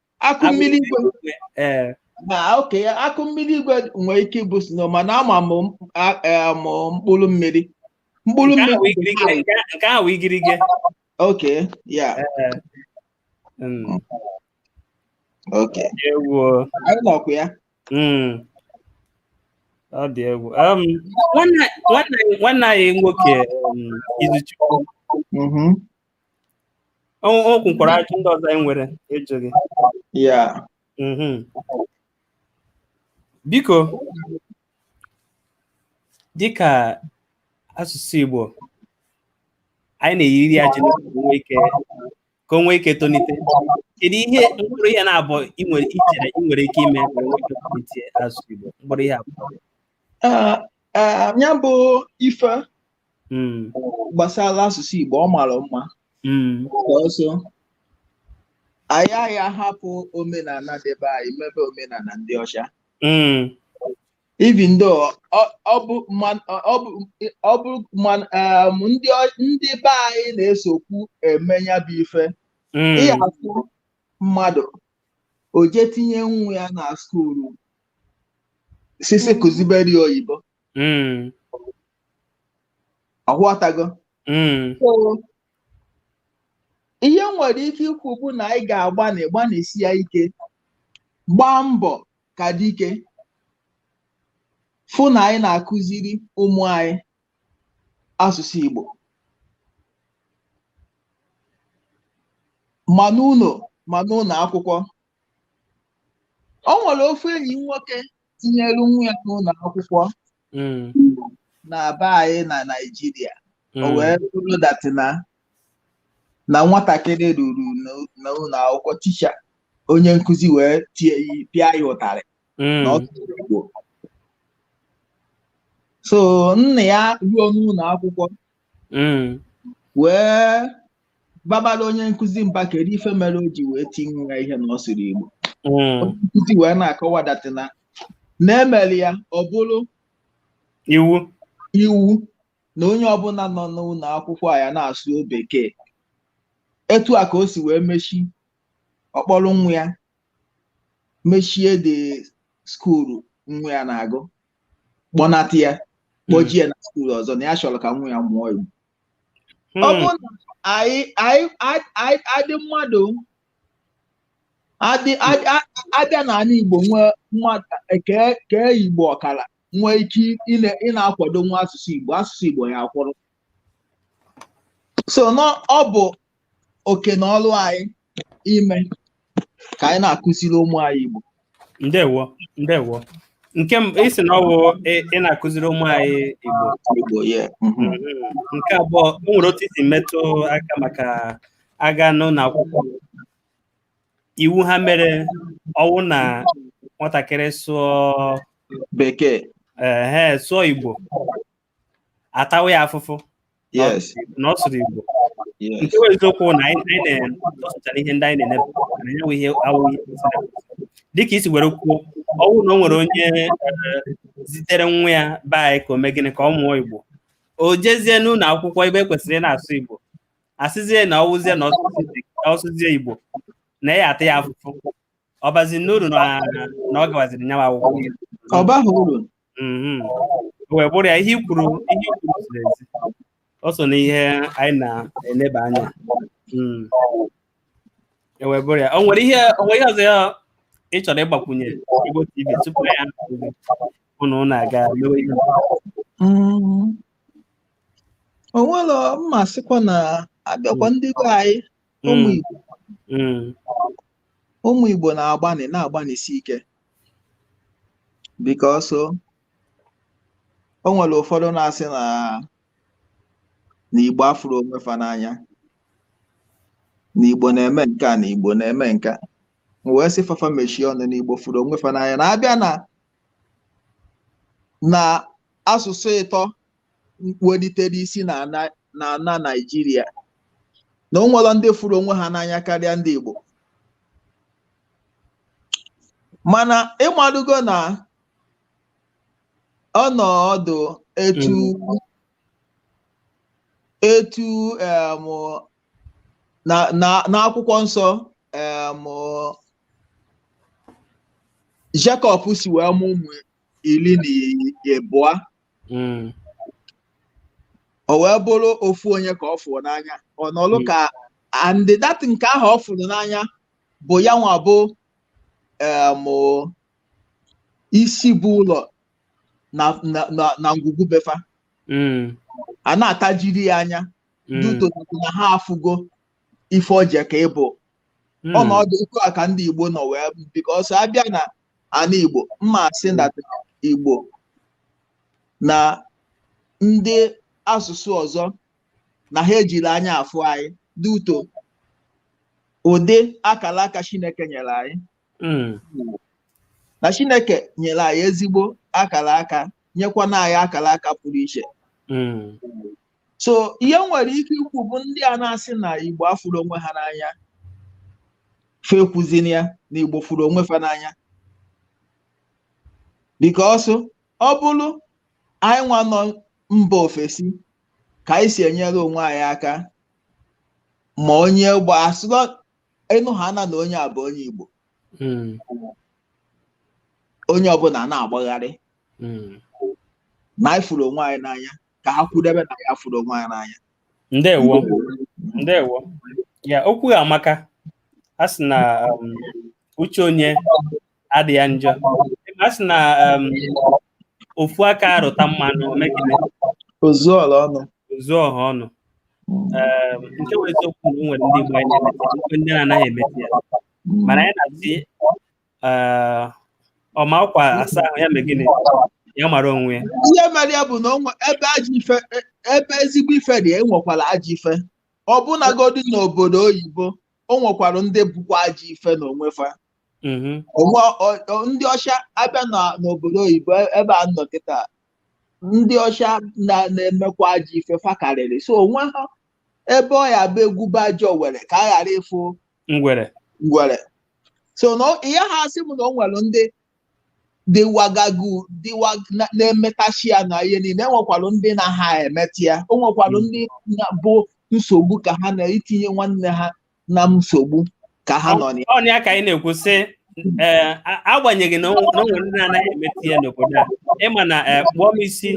akụ mmiri igwe ee na okay akụ mmiri igwe nwere ike ịbụ snow mana ama m m- a- eh, m mkpụrụ mmiri mkpụrụ nke ahụ mmiri bụ igirigi nke a- nke ahụ igirigi okay ee Mm, okay anyị nọkwa ya Mm. ọ dị egwu Um, nwanne nwanne anyị- nwanne anyị nwoke um, Izuchukwu Mhm. O o kwukwara ajụ ndị ọzọ anyị nwere ịjụ gị. ya Mhm. Biko, dịka asụsụ Igbo, anyị na-eyiri ya ji n'oge ka o nwee ike ka o nwee ike tonite. Kedu ihe mkpụrụ ihe naabọ ị nwere i chere ị nwere ike ime ka o nwee ike tonite asụsụ Igbo? Mkpụrụ ihe abụọ. Ah, ah, nya bụ ife mm. gbasara asụsụ Igbo ọ mara mma mm. ọ sọ anyị anyị ahapụ omenala ndị be anyị mebe omenala ndị ọcha even though ọ bụ um, ndị be anyị na-esokwu eme nya bụ ife ị ya-afụ mmadụ o jee tinye nwa ya na skuulu sị sị kuzibere ya oyibo Mm. ọ ghọtago Mm. So, ihe m nwere ike ikwu bụ na anyị ga-agbani gbanisi ya ike gbaa mbọ ka dike fụ na anyị na-akụziri ụmụ anyị asụsụ Igbo ma n'ụlọ ma n'ụlọ akwụkwọ o nwere ofu enyi nwoke tinyere nwa ya n'ụlọ akwụkwọ na be anyị na Naịjirịa o wee bụrụ that na na nwatakịrị ruru n'ụlọ akwụkwọ teacher onye nkụzi wee tie ya pịa ya ụtarị na ọ sụrụ Igbo so nna ya ruo n'ụlọ akwụkwọ Mm. wee babara onye nkụzi mba kedu ife mere o ji wee tie nwa ya ihe na ọ sụrụ Igbo Mm. onye nkụzi wee na-akọwa that na na e mere ya ọ bụrụ Iwu. iwu na onye ọbụla nọ n'ụlọ akwụkwọ a ya na-asụ bekee etu a ka o si wee mechi ọ kpọrọ nwa ya mechie the school nwa ya na-agụ kpọnata ya kpọjie ya na school ọzọ na ya chọrọ ka nwa ya mụọ Igbo ọ Hmm. bụrụ na anyị anyị a- a- adị mmadụ adị adị- a- abịa n'ala Igbo nwee mmadụ kee kee Igbo ọkara nwee ike ịna- ịna-akwado nwa asụsụ Igbo asụsụ Igbo ya-akwụrụ so na ọ bụ oke na ọrụ anyị ime ka anyị na-akụziri ụmụ anyị Igbo ndewo ndewo nke m isi na ọ wụ ị na-akụziri ụmụ anyị Igbo Igbo ya mhm. Mm, nke abụọ o nwere otu isi metụ aka maka a gaa n'ụlọ akwụkwọ iwu ha mere ọ wụ na nwatakịrị sụọ bekee ehe sụọ Igbo a tawa ya afụfụ yes na ọ sụrụ Igbo yes nke bụ eziokwu na anyị anyị na-atọsụchara ihe ndị anyị na-enepụta na ya bụ ihe awụghị ihe kwesịrị ekwesị. dịka isi were kwuo ọ bụrụ na o nwere onye eh, zitere nwa ya be anyị ka o mee gịnị ka ọ mụọ Igbo o jezie n'ụlọ akwụkwọ ebe e kwesịrị ị na-asụ Igbo a sịzie na ọ wụzie na ọ sụzie- na ọ sụzie Igbo na a ya-ata ya afụfụ ọ bazi n'uru na na ọ gawaziri nyawa akwụkwọ ọ baghị uru mhm. wee bụrụ ya ihe i kwuru ihe i kwuru ziri ezi o so n'ihe anyị na-eneba anya mm. e wee bụrụ ya o nwere ihe o nwere ihe ọzọ ya ị chọrọ ịgbakwunye Igbo TV tupu ya ụnụ na-aga mewe ihe mm. o nwere mmasịkwa na abịakwa ndị be anyị ụmụ mm. Igbo mm. ụmụ Igbo na-agbani na-agbanisi ike because o nwere ụfọdụ na-asị na na Igbo afụrọ onwe fa n'anya na Igbo na-eme nke a na Igbo na-eme nke a wee sị fa fa mechie ọnụ na Igbo fụrụ onwe fa n'anya na a bịa na na asụsụ ịtọ welitere isi na ana na ana Naijiria na o nwerọ ndị fụrụ onwe ha n'anya karịa ndị Igbo mana ị madugo na ọnọdụ etu etu em, na na n'akwụkwọ nsọ em, Jekọb si wee mụ ụmụ iri na ịbụa hmm. o wee bụrụ ofu onye ka ọ fụrụ n'anya ọ nọlụ hmm. ka and that nke ahụ ọ fụrụ n'anya bụ ya nwa bụ isi bụ ụlọ na ngwulu be fa hmm. a na-atajiri ya anya due to na ha afụgo ife o jekọ ịbụ ọnọdụ hmm. otu a ka ndị Igbo nọ wee because a bịa na ana Igbo m ma-asị na Igbo na ndị asụsụ ọzọ na ha ejirọ anya afụ anyị due to ụdị akara aka Chineke nyere anyị hmm. na Chineke nyere anyị ezigbo akara aka nyekwana anyị akara aka pụrụ iche hmm. so ihe m nwere ike ikwu bụ ndị a na-asị na igbo afụrọ onwe ha n'anya fa ekwuzina ya na igbo fụrụ onwe fa n'anya because ọ bụrụ anyị nwa nọ mba ofesi ka anyị si enyere onwe anyị aka ma onye igbo asụlọ ị nụhana na onye a bụ onye igbo hmm. onye ọbụla na-agbagharị hmm. na anyị fụrụ onwe anyị n'anya ka ha kwudebe na anyị afụrọ onwe anyị n'anya ndewo ndewo ya okwu gị amaka a sị na um, uche onye adị ya njọ a sị na um, ofu aka rụta mmanụ o megide o zuo ọra ọnụ o zuo ọha ọnụ Um, nke bụ eziokwu na o nwere ndị Igbo anyị na-emete ndị na-anaghị emete ya mana anyị na-asị Eh, ọ ma akwa asa ahụ ya mee gịnị ya mara onwe ya ihe mere ya bụ na o nwe ebe ajọ ife e- ebe ezigbo ife dị enwekwara ajọ ife ọbụnagodi n'obodo oyibo o nwekwara ndị bụkwa ajọ ife n'onwe fa Mhm. onwe ọ- ọ- ndị ọcha abịa na- n'obodo oyibo e- ebe a nọ kịta ndị ọcha na- na-emekwa ajọ ife fa karịrị so onwe ha ebe ọ ya bụ egwube ajọ were ka a ghara ịfụ ngwere ngwere so na ọ- ihe ha asị m na o nwere ndị dịwagagu dịwa na- na-emetacha ya na ihe niile enwekwalụ ndị naha emeta ya o nwekwalụ ndị na- bụ nsogbu ka ha na-itinye nwanne ha na nsogbu ka ha nọ na ya ọ na ya ka anyị na-ekwu sị ee agbanyeghị na o nwere ndị na-anaghị emeta ya n'obodo a ịma na kpụọ m isi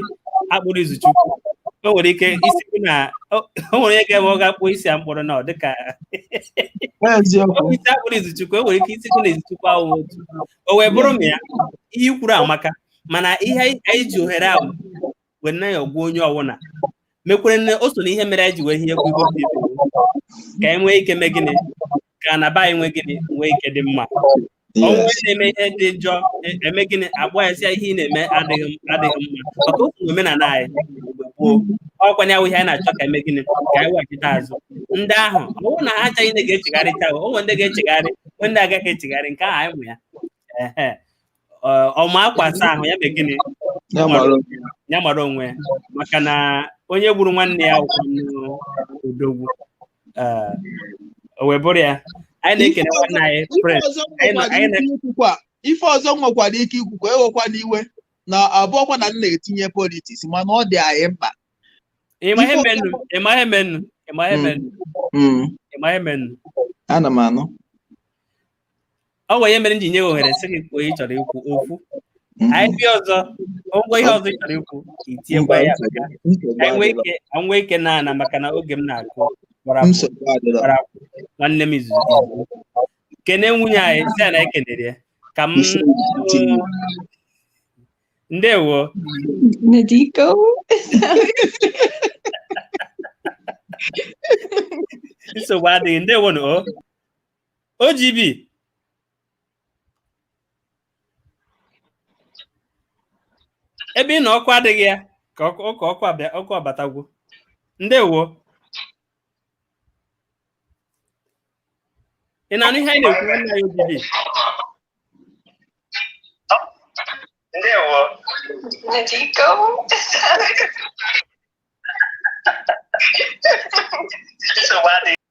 akpụrụ Izuchukwu o nwere ike ịsị na o nwere onye ga-eme ọ ga-akpụ isi a m kpụrụ na ọ dịka isi akpụrụ Izuchukwu o nwere ike ịsị na Izuchukwu ahụ otu o wee bụrụ m ya ihe i kwuru amaka mana ihe anyị ji ohere ahụ wee na-ayọkwu onye ọwụna mekwere nne o so na ihe mere anyị ji wee ihe ekwu ihe obi ka anyị nwee ike mee gịnị ka na be anyị nwee gịnị nwee ike dị mma o nwee onye na-eme ihe dị njọ e- eme gịnị akpọọ ya sị ya ihe ị na-eme adịghị m- adịghị mma maka otu omenala anyị mgbe gboo ọkwa ya ihe anyị na-achọ ka eme gịnị ka anyị weghachite azụ ndị ahụ ọ bụrụ na ha abụchaghị ndị ga-echegharịcha o nwere ndị ga-echegharị nwee ndị agaghị echegharị nke ahụ anyị mụ ya ehe Ọ- ọ ma akwa asa ahụ ya mee gịnị Ya mara onwe ya. ya mara onwe ya maka na onye gburu nwanne ya abụkwanụ odogwu Eh, o wee bụrụ ya anyị na-ekele nwanne anyị Ife prince ọzọ anyị na- nwekwara anyị na- ike ikwukwa ife ọzọ nwekwara ike ikwukwa ewekwana iwe na abụrọkwa na m na-etinye politiks mana ọ dị anyị mkpa ịma ihe menụ ịma ihe menụ ịma ihe menụ Mm, ịma ihe menụ ana m anụ ọ nwere ihe mere m ji nye gị ohere sị gị kwuo ihe ị chọrọ ikwu okwu anyị bịa ọzọ ngwa ihe ọzọ ị chọrọ ikwu i tiekwa ya maka ka anyị nwee ike ka m nwee ike na ana maka na oge m na-akụ gbara akwụ, nsogbu adịrọ gbara akwụ. nwanne m izuzu ya bụ. kene nwunye anyị sị na ekenere ya ka m Isi tinye. ndewo Nadiko. nsogbu adịghị ndewo na o OGB ebe ị nọ ọkụ adịghị ya ka ọkụ ọkụ ọkụ abịa ọkụ abatagwo ndewo ị na-anụ ihe anyị na-ekwu nwanne anyị OGB Ndewo. Nadiko. Nsogbu adịghị.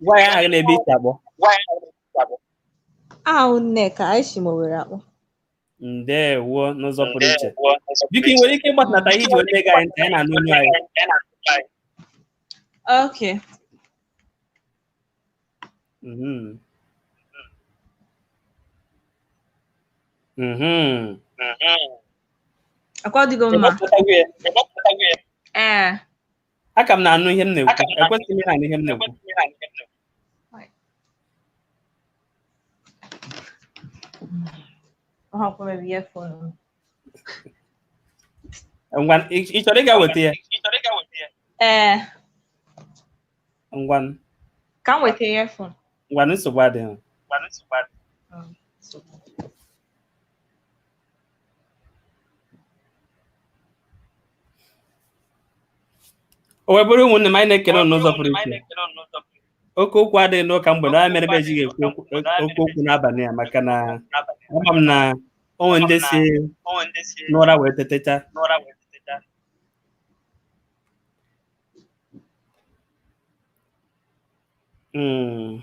Gwa ya aha gị na ebe i si akpọ. awụ Nneka anyị si m Owere akpọ Ndewo n'ụzọ pụrụ iche. Biko ị nwere ike ịgbatunata ihe i ji wee na-ege anyị ntị anyị na-anụ olu anyị. okay Mhm. Mhm. ọkwa ọ dịgo mma Ị gbapụtago ya. ee aka m na-anụ ihe m na-ekwu ekwesịghị m na-anụ ihe m na-ekwu ngwa ị chọrọ ịga weta ya ee ngwa ka m weta ya fon ngwa nsogbu adịghị o wee bụrụ ụmụnne m anyị na-ekele unu n'ụzọ pụrụ iche oke okwu adịghị n'ụka mgbede ọ ya mere ebe ejighị ekwu oke okwu n'abalị a maka na ama m na o nwe ndị si n'ụra wee tetecha Mm.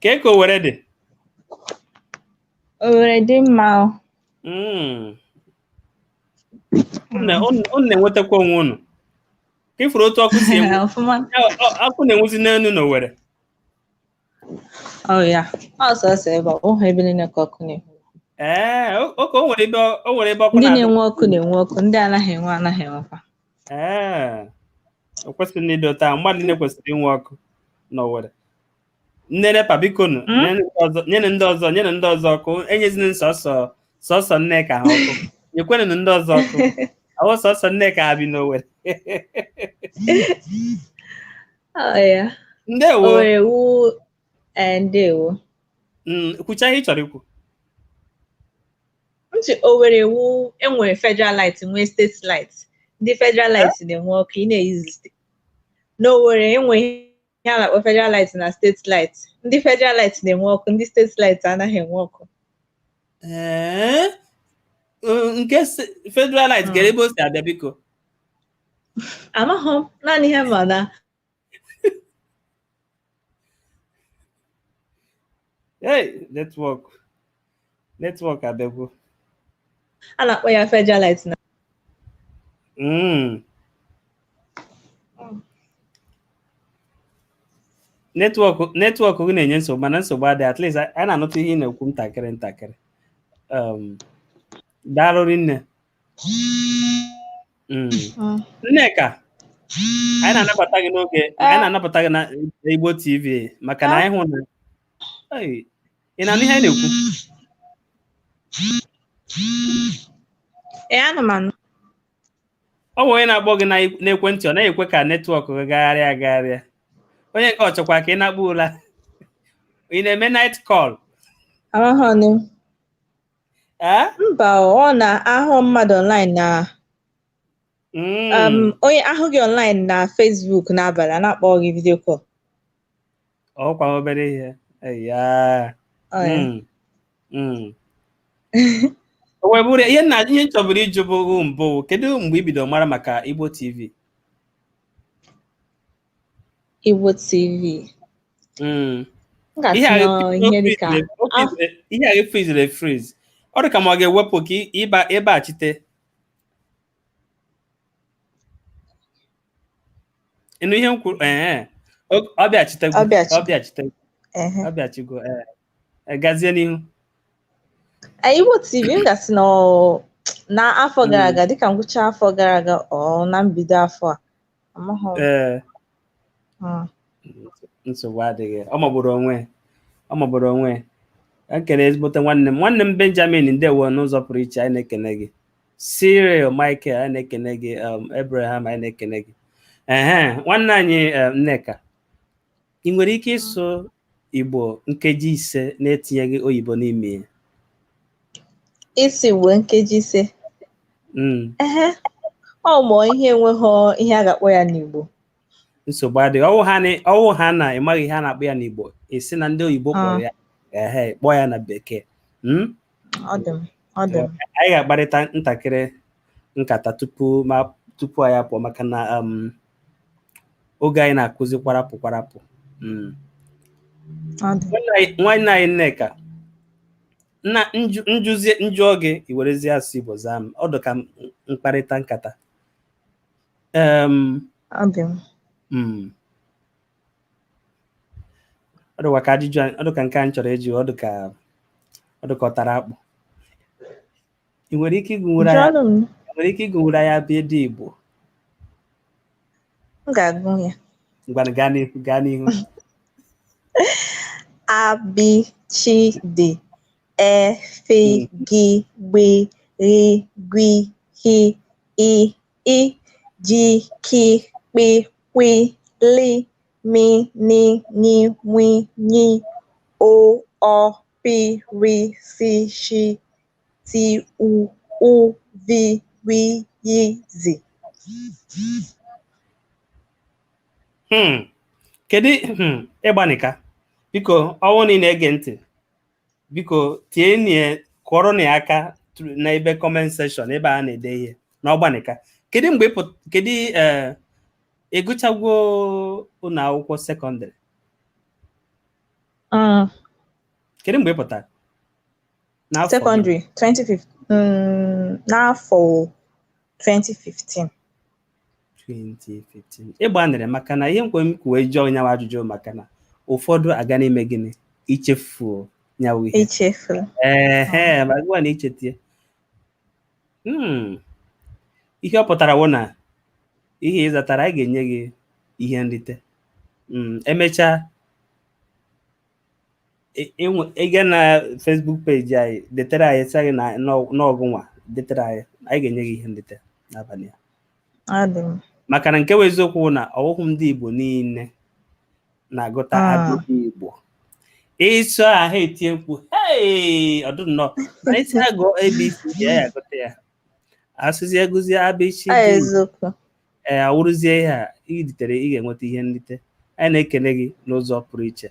kee ka Owere dị Owere dị mma o. Mm. Unu na- unu- unu na-enwetakwa onwe unu ka ị fụrụ otu ọkụ si enwu Ọfụma. ọ- ọ- ọkụ na-enwuzi n'elu na owere Oh ya. Ọ sọsọ ebe ọ wụhụ ebe niile ka ọkụ na-enwu. ee o- oke o nwere ebe ọ- o nwere ebe ọkụ Ndị na- ndị na-enwe ọkụ na-enwe ọkụ, ndị anaghị enwe anaghị enwekwa. ee o kwesịghị ịdị otu a mmadụ niile kwesịrị inwe ọkụ na owere ndị NEPA biko nụ Hmm? nyenụ ndị ọzọ- nyenụ ndị ọzọ nyenụ ndị ọzọ ọkụ enyezina sọsọ sọsọ nneka ha ọkụ nyekwenụ ndị ọzọ ọkụ ọ wụhụ sọsọ nneka ha bi n'owere Ọ ya. ndewo O ewu ee, ndewo. Mm, kwuchaa ihe ị chọrọ ikwu Ihe dị Owerri wụ e nwere federal light nwee state light. Ndị federal light na-enwe ọkụ ị na-ekwuzi n'Owerri e nwere ihe a na-akpọ federal light na steeti light ndị federal light na-enwe ọkụ ndị steeti light anaghị enwe ọkụ Ee, mm, nke se- federal light gara ebe o si abịa biko amaghị m naanị ihe m ma na Hey, network. netwọk abịagwo a na-akpọ ya federal light na Mm. netwọk netwọk gị na-enye nsogbu mana nsogbu adịghị at least anyị na-anụtụ ihe ị na-ekwu ntakịrị ntakịrị um, daalụ rinne Mm. Mm. nneka anyị na-anabata gị n'oge anyị na-anabata gị na igbo tv maka na anyị hụ na Ei, ị na-anụ ihe anyị na-ekwu ee ana m anụ ọ bụ onye na-akpọ gị na- n'ekwentị ọ naghị ekwe ka netwọk gị gagharịa agagharịa onye nke ọ chọkwa ka ị nakpuo ụla ị na-eme night call ahụhụnụ ee mba o, ọ na a hụ mmadụ online na Mm. um, onye hụ gị online na Facebook n'abalị a na-akpọ gị video call ọkwa obere ihe ya Ọ ya. Mm, mm. O wee bụrụ ya, ihe nna ihe m chọburu ịjụ bụ mbụ kedu mgbe i bidoro mara maka Igbo TV Igbo TV Mm. m ihe a ga-atụnye ga-efu- ihe dịka o frizere- ihe a frizere efriz ọ dị ka m ga-ewepụ ka ị- ịba ị bachite ị nụ ihe m kwuru ee ọ bịachitego ọ bịachitego ọ bịachigo ee gazie n'ihu Igbo TV m ga-asị na na afọ gara aga dịka ngwụcha afọ gara aga ọ na mbido afọ a amaghị ee nsogbu adịghị ọ magburu onwe ọ magburu onwe ekene ezigbote nwanne m nwanne m Benjamin ndewo n'ụzọ pụrụ iche anyị na-ekene gị Cyril Michael anyị na-ekene gị um, Abraham anyị na-ekene gị ehe nwanne anyị um, Nneka ị nwere ike ịsụ Igbo nkeji ise na-etinyeghị oyibo n'ime ya ịsụ Igbo nkeji ise mm. ehe ọ mụọ ihe enweghị ihe a ga-akpọ ya n'Igbo nsogbu adịghị ọ wụ ha na- ọ wụ ha na ị maghị ihe a na-akpọ ya n'igbo ị sị na ndị oyibo kpọrọ ya ehe kpọọ ya na bekee Mm? ọ dị m ọ dị m anyị ga-akparịta ntakịrị nkata tupu ma tupu anyị apụọ maka na um, oge anyị na-akụzi kwarapụ kwarapụ Mm. ọ dị Nwanne anyị- nwanne anyị nneka nna nju- njuzie m jụọ gị i werezie asụsụ igbo zaa m ọ dị ka m- mkparịta nkata Um, ọ dị mma. ọ dịkwa ka ajụjụ a- ọ dị ka nke a m chọrọ ịjụ ọ dị ka ọ dị ka ọ tara akpụ ị nwere ike ịgụnwuru anyị jụọnụ m ị nwere ike ịgụnwuru anyị abịdịị igbo m ga-agụ ya ngwanụ gaa n'ihu gaa n'ihu a b ch d e f g gb gh gw h i, ji, ki, kpi, kwi, li, mi, ni, nyi, nwi, nyi, o, ọ, pi, ri, si, shi, ti, u, u, vi, wi, yi, zi. Hmm. kedu hmm, ịgbanika biko ọnwụ na ị na-ege ntị biko tie nye kụọrọnụ ya aka tru- na ebe comment section ebe a na-ede ihe n'ọgbanika kedu mgbe ị pụt- kedu eh, ị gụchagwo ụlọ akwụkwọ sekọndịrị Mm, kedu mgbe ị pụtara N'afọ gịnị? secondary 2015 mm, n'afọ 2015 2015 ị gbanịrị maka na ihe nkwe m kwuwe jụọ nyawa ajụjụ maka na ụfọdụ aga na-eme gịnị ichefuo nyawa ihe echefuru ehe ma gịwa na ichetie Hmm. ihe ọ pụtara wụ na ihe ị zatara anyị ga-enye gị ihe nrite Mm, emechaa ị gaa na Facebook peji anyị detere anyị sị anyị na ọ gụnwa detere anyị anyị ga-enye gị ihe nrite n'abalị a Ọ dị mma. maka na nke bụ eziokwu bụ na ọwụhụ ndị Igbo niile na-agụta Ah. abịdịị Igbo ịsụ ahụ etie mkpu "Hey!" ọ dụ nnọọ na ị sị ya gụọ abc ya ya agụta ya a sịzị ya gụzie abc Ọ eziokwu. ee awụrụzie ihe a i ritere ị ga-enweta ihe nrite anyị na-ekene gị n'ụzọ pụrụ iche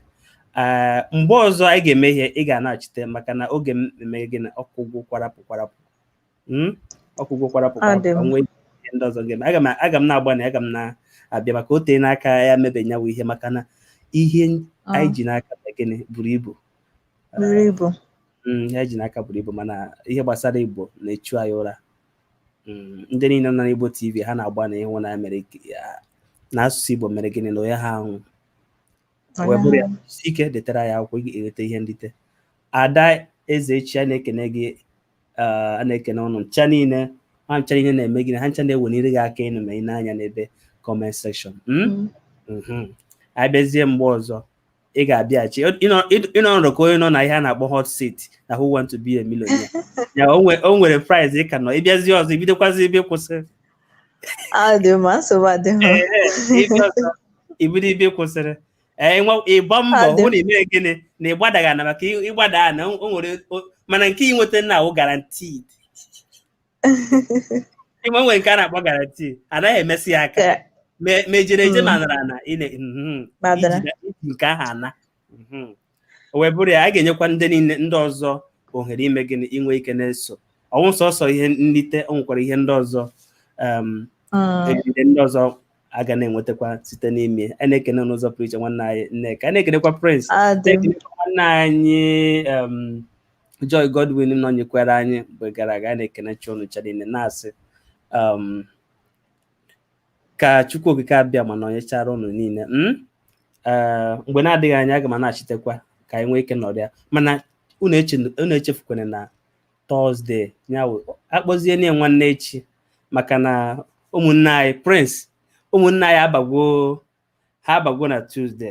ee mgbe ọzọ anyị ga-eme ihe ị ga-anọchite maka na oge m eme gịnị ọ kụgwo kwarapụ kwarapụ Mm? ọ kụgwo kwarapụ Ọ dị kwarapụ mma. ka m nwee ihe ndị ọzọ ga-eme aga m aga m na-agbanị aga m na-abịa maka o teena aka ya mebe nyawu ihe maka na ihe anyị ji n'aka bụ gịnị buru ibu buru ibu Mm, ihe anyị ji n'aka buru ibu mana ihe gbasara igbo na-echu anyị ụra Mm, ndị niile nọ n'Igbo TV ha na-agbanị ịhụ na mere na asụsụ Igbo mere gịnị na onye ha ahụ wee bụrụ ya si ike detara ya akwụkwọ ị ga-enweta ihe nrite ada eze echi a na-ekene gị a na-ekene ụnụ ncha niile ha ncha niile na-eme gịnị ha ncha na-eweniri gị aka enu ma ị nee anya n'ebe comment section hmm? mm-hmm. abịazie mgbe ọzọ ị ga-abịaghachi ị nọ nnọọ ka onye nọ na ihe a na-akpọ hot seat na who want to be a millionaire ya o nwere prize ị ka nọ ị bịazie ọzọ i bidokwazie ebe ị kwụsịrị i bido ebe ị kwụsịrị ị gbaa mbọ hụ na i mere gịnị na ị gbadaghị ana maka ị gbadaa ana o nwere mana nke i nweta na-awụ guaranteed ị ma nwere nke a na-akpọ garanti anaghị emesi ya aka Ka- ma ma ejere eje Mm. ma nara ana ị na- mhm. Madara. Iji- iji nke ahụ ana Mhm. o wee bụrụ ya a ga-enyekwa ndị niile ndị ọzọ ohere ime gịnị inwe ike na-eso ọ wụghị sọsọ ihe nlite o nwekwara ihe ndị ọzọ um, Mm. egide ndị ọzọ a ga na-enwetakwa site n'ime a na-ekene n'ụzọ pụrụ iche nwanne anyị Nneka a na-ekenekwa Prince Adị m. na-ekenekwa nwanne anyị um, Joy Godwin nọnyekwara anyị mgbe gara aga na-ekenecha unu cha niile na-asị um, ka Chukwu Okike Abịama nọnyechara unu niile hmm? uh, mgbe na-adịghị anya aga m na-achitekwa ka anyị nwee ike nọrịa mana unu echefukwana na Tọzdee nya wụ a kpọzie nye nwanne echi maka na ụmụnne anyị Prince ụmụnne anyị abagwo ha abago na Tuzde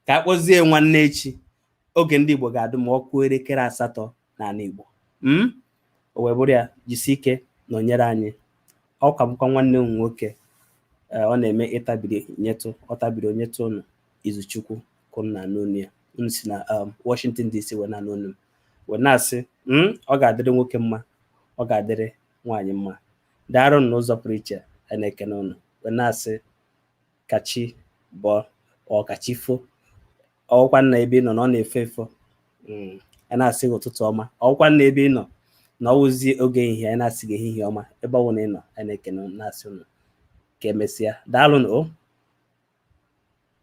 ka a kpọzie nwanne echi oge ndị Igbo ga-adụ ma ọ kụọ elekere asatọ n'ala Igbo hmm? o wee bụrụ ya jisi ike nọnyere anyị ọ ka bụkwa nwanne m nwoke eh, ọ na-eme ị tabiri nyetụ ọ tabiri o nyetụ ụnụ Izuchukwu ka unu na-anụ onu ya unu si na um, Washington DC wee na-anụ onu m wee na-asị hmm, ọ ga-adịrị nwoke mma ọ ga-adịrị nwaanyị mma daarụ n'ụzọ pụrụ iche a na-ekene ụnụ wee na-asị ka chi bọọ o ka chi fo ọ wụkwanụ na ebe ị nọ na ọ na-efo efo mm, a na-asị gị ụtụtụ ọma ọ wụkwanụ na ebe ị nọ na ọ wụzi oge ehihie a na-asị gị ehihie ọma ebe ọ bụla ị nọ a na-ekene na-asị unu ka emesịa daalụ nụ o